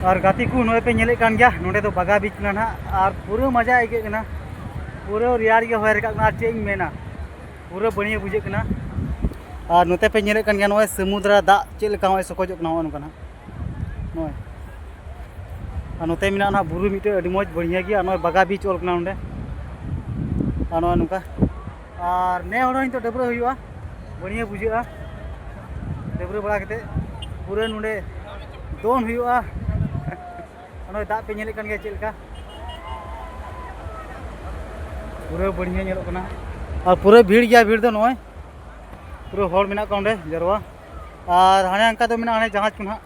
ᱟᱨ ᱜᱟᱛᱮ ᱠᱚ ᱱᱚᱜᱼᱚᱭ ᱯᱮ ᱧᱮᱞᱮᱫ ᱠᱟᱱ ᱜᱮᱭᱟ ᱱᱚᱰᱮ ᱫᱚ ᱵᱟᱜᱟ ᱵᱤᱪ ᱠᱟᱱᱟ ᱱᱟᱦᱟᱜ ᱟᱨ ᱯᱩᱨᱟᱹ ᱢᱟᱡᱟ ᱟᱹᱭᱠᱟᱹᱜ ᱠᱟᱱᱟ ᱯᱩᱨᱟᱹ ᱨᱮᱭᱟᱲ ᱜᱮ ᱦᱚᱭ ᱨᱟᱠᱟᱵ ᱠᱟᱱᱟ ᱟᱨ ᱪᱮᱫ ᱤᱧ ᱢᱮᱱᱟ ᱯᱩᱨᱟᱹ ᱵᱟᱹᱲᱤᱭᱟᱹ ᱵᱩᱡᱷᱟᱹᱜ ᱠᱟᱱᱟ ᱟᱨ ᱱᱚᱛᱮ ᱯᱮ ᱧᱮᱞᱮᱫ ᱠᱟᱱ ᱜᱮᱭᱟ ᱱᱚᱜᱼᱚᱭ ᱥᱟᱹᱢᱩᱫᱽᱨᱟ ᱫᱟᱜ ᱪᱮᱫ ᱞᱮᱠᱟ ᱱᱚᱜᱼᱚᱭ ᱥᱚᱠᱚᱡᱚᱜ ᱠᱟᱱᱟ ᱱᱚᱜᱼᱚ ᱱᱚᱝᱠᱟ ᱱᱟᱦᱟᱜ ᱱᱚᱜᱼᱚᱭ ᱟᱨ ᱱᱚᱛᱮ ᱢᱮᱱᱟᱜᱼᱟ ᱱᱟᱦᱟᱜ ᱵᱩᱨᱩ ᱢᱤᱫᱴᱮᱡ ᱟᱹᱰᱤ ᱢᱚᱡᱽ ᱵᱟᱹᱲᱤᱭᱟᱹ ᱜᱮᱭᱟ ᱱᱚᱜᱼᱚᱭ ᱵᱟᱜᱟ ᱵᱤᱪ ᱚᱞ ᱠᱟᱱᱟ ᱱᱚᱰᱮ ᱟᱨ ᱱᱚᱜᱼᱚᱭ ᱱᱚᱝᱠᱟ ᱟᱨ ᱱᱮ ᱦᱚᱲ ᱱᱤᱛᱚᱜ ᱰᱟᱹᱵᱽᱨᱟᱹ ᱦᱩᱭᱩᱜᱼᱟ ᱵᱟᱹᱲᱤᱭᱟᱹ ᱵᱩᱡᱷᱟᱹᱜᱼᱟ ᱰᱟᱹᱵᱽᱨᱟᱹ ᱵᱟᱲᱟ ᱠᱟᱛᱮ ᱯᱩᱨᱟᱹ ᱱᱚᱰᱮ ᱫᱚᱱ ᱦᱩᱭᱩᱜᱼᱟ ᱚᱱᱟ ᱫᱟᱜ ᱯᱮ ᱧᱮᱞᱮᱫ ᱠᱟᱱ ᱜᱮᱭᱟ ᱪᱮᱫ ᱞᱮᱠᱟ ᱯᱩᱨᱟᱹ ᱵᱟᱹᱲᱤᱭᱟᱹ ᱧᱮᱞᱚᱜ ᱠᱟᱱᱟ ᱟᱨ ᱯᱩᱨᱟᱹ ᱵᱷᱤᱲ ᱜᱮᱭᱟ ᱵᱷᱤᱲ ᱫᱚ ᱱᱚᱜᱼᱚᱭ ᱯᱩᱨᱟᱹ ᱦᱚᱲ ᱢᱮᱱᱟᱜ ᱠᱚᱣᱟ ᱚᱸᱰᱮ ᱡᱟᱨᱣᱟ ᱟᱨ ᱦᱟᱱᱮ ᱚᱱᱠᱟ ᱫᱚ ᱢᱮᱱᱟᱜᱼᱟ ᱦᱟᱱᱮ ᱡᱟᱦᱟᱡᱽ ᱠᱚ ᱱᱟᱦᱟᱜ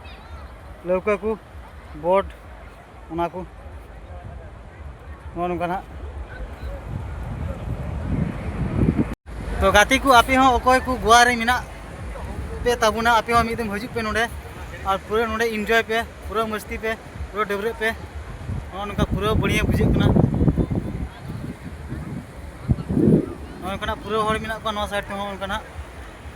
ᱞᱟᱹᱣᱠᱟᱹ ᱠᱚ ᱵᱳᱴ ᱚᱱᱟ ᱠᱚ ᱱᱚᱜᱼᱚ ᱱᱚᱝᱠᱟ ᱱᱟᱜ ᱛᱚ ᱜᱟᱛᱮ ᱠᱚ ᱟᱯᱮ ᱦᱚᱸ ᱚᱠᱚᱭ ᱠᱚ ᱜᱳᱣᱟ ᱨᱮ ᱢᱮᱱᱟᱜ ᱯᱮ ᱛᱟᱵᱚᱱᱟ ᱟᱯᱮ ᱦᱚᱸ ᱢᱤᱫ ᱫᱚᱢ ᱦᱤᱡᱩᱜ ᱯᱮ ᱱᱚᱰᱮ ᱟᱨ ᱯᱩᱨᱟᱹ ᱱᱚᱰᱮ ᱤᱱᱡᱚᱭ ᱯᱮ ᱯᱩᱨᱟᱹ ᱢᱟᱹᱥᱛᱤ ᱯᱮ ᱯᱩᱨᱟᱹ ᱰᱟᱹᱵᱽᱨᱟᱹᱜ ᱯᱮ ᱱᱚᱜᱼᱚ ᱱᱚᱝᱠᱟ ᱯᱩᱨᱟᱹ ᱵᱟᱹᱲᱤᱭᱟᱹ ᱵᱩᱡᱷᱟᱹᱜ ᱠᱟᱱᱟ ᱱᱚᱜᱼᱚ ᱱᱚᱝᱠᱟᱱᱟᱜ ᱯᱩᱨᱟᱹ ᱦᱚᱲ ᱢᱮᱱᱟᱜ ᱠᱚᱣᱟ ᱱᱚᱣᱟ ᱥᱟᱭᱤᱰ ᱛᱮᱦᱚᱸ ᱚᱱᱠᱟᱱᱟᱜ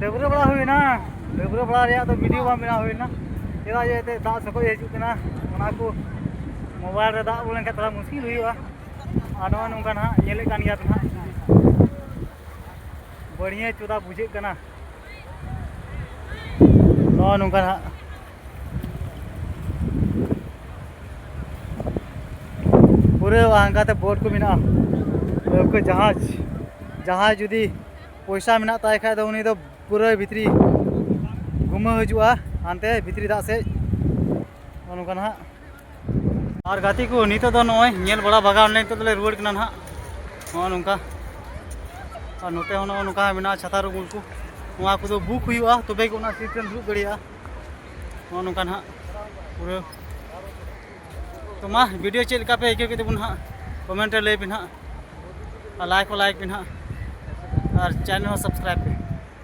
ᱰᱟᱹᱵᱽᱨᱟᱹ ᱵᱟᱲᱟ ᱦᱩᱭᱱᱟ ᱰᱟᱹᱵᱽᱨᱟᱹ ᱵᱟᱲᱟ ᱨᱮᱭᱟᱜ ᱫᱚ ᱵᱷᱤᱰᱤᱭᱳ ᱵᱟᱝ ᱵᱮᱱᱟᱣ ᱦᱩᱭᱱᱟ ᱪᱮᱫᱟᱜ ᱡᱮ ᱮᱱᱛᱮᱫ ᱫᱟᱜ ᱥᱚᱠᱚᱡ ᱦᱤᱡᱩᱜ ᱠᱟᱱᱟ ᱚᱱᱟ ᱠᱚ ᱢᱳᱵᱟᱭᱤᱞ ᱨᱮ ᱫᱟᱜ ᱵᱚᱞᱚ ᱞᱮᱱᱠᱷᱟᱱ ᱛᱷᱚᱲᱟ ᱢᱩᱥᱠᱤᱞ ᱦᱩᱭᱩᱜᱼᱟ ᱟᱨ ᱱᱚᱜᱼᱚ ᱱᱚᱝᱠᱟ ᱱᱟᱦᱟᱜ ᱧᱮᱞᱮᱫ ᱠᱟᱱ ᱜᱮᱭᱟ ᱱᱟᱦᱟᱜ ᱵᱟᱹᱲᱤᱭᱟᱹ ᱪᱚᱫᱟ ᱵᱩᱡᱷᱟᱹᱜ ᱠᱟᱱᱟ ᱱᱚᱜᱼᱚ ᱱᱚᱝᱠᱟ ᱱᱟᱦᱟᱜ ᱯᱩᱨᱟᱹ ᱦᱟᱱᱠᱟᱛᱮ ᱵᱳᱴ ᱠᱚ ᱢᱮᱱᱟᱜᱼᱟ ᱞᱟᱹᱣᱠᱟᱹ ᱡᱟᱦᱟᱡᱽ ᱡᱟᱦᱟᱸᱭ ᱡᱩᱫᱤ ᱯᱚᱭᱥᱟ ᱢᱮᱱᱟᱜ ᱛᱟᱭ ᱠᱷᱟᱡ ᱫᱚ ᱩᱱᱤ ᱫᱚ ᱯᱩᱨᱟᱹ ᱵᱷᱤᱛᱨᱤ ᱜᱩᱢᱟᱹ ᱦᱤᱡᱩᱜᱼᱟ ᱦᱟᱱᱛᱮ ᱵᱷᱤᱛᱨᱤ ᱫᱟᱜ ᱥᱮᱡ ᱱᱚᱜᱼᱚ ᱱᱚᱝᱠᱟ ᱱᱟᱦᱟᱜ ᱟᱨ ᱜᱟᱛᱮ ᱠᱚ ᱱᱤᱛᱚᱜ ᱫᱚ ᱱᱚᱜᱼᱚᱭ ᱧᱮᱞ ᱵᱟᱲᱟ ᱵᱟᱜᱟᱣ ᱱᱟᱞᱮ ᱱᱤᱛᱚᱜ ᱫᱚᱞᱮ ᱨᱩᱣᱟᱹᱲ ᱠᱟᱱᱟ ᱱᱟᱦᱟᱜ ᱱᱚᱜᱼᱚ ᱱᱚᱝᱠᱟ ᱟᱨ ᱱᱚᱛᱮ ᱦᱚᱸ ᱱᱚᱜᱼᱚ ᱱᱚᱝᱠᱟ ᱢᱮᱱᱟᱜᱼᱟ ᱪᱷᱟᱛᱟᱨ ᱩᱢᱩᱞ ᱠᱚ ᱱᱚᱣᱟ ᱠᱚᱫᱚ ᱵᱩᱠ ᱦᱩᱭᱩᱜᱼᱟ ᱛᱚᱵᱮ ᱜᱮ ᱚᱱᱟ ᱥᱤᱴ ᱨᱮᱢ ᱫᱩᱲᱩᱵ ᱫᱟᱲᱮᱭᱟᱜᱼᱟ ᱱᱚᱜᱼᱚ ᱱᱚᱝᱠᱟ ᱱᱟᱦᱟᱜ ᱯᱩᱨᱟᱹ ᱛᱚ ᱢᱟ ᱵᱷᱤᱰᱤᱭᱳ ᱪᱮᱫ ᱞᱮᱠᱟ ᱯᱮ ᱟᱹᱭᱠᱟᱹᱣ ᱠᱮᱫ ᱛᱟᱵᱚᱱ ᱦᱟᱸᱜ ᱠᱚᱢᱮᱱᱴ ᱨᱮ ᱞᱟᱹᱭ ᱯᱮ ᱦᱟᱸᱜ ᱟᱨ ᱞᱟᱭᱤᱠ ᱦᱚᱸ ᱞᱟᱭᱤᱠ ᱯᱮ ᱦᱟᱸᱜ ᱟᱨ ᱪᱮᱱᱮᱞ ᱦᱚᱸ ᱥᱟᱵᱥᱠᱨᱟᱭᱤᱵᱽ ᱯᱮ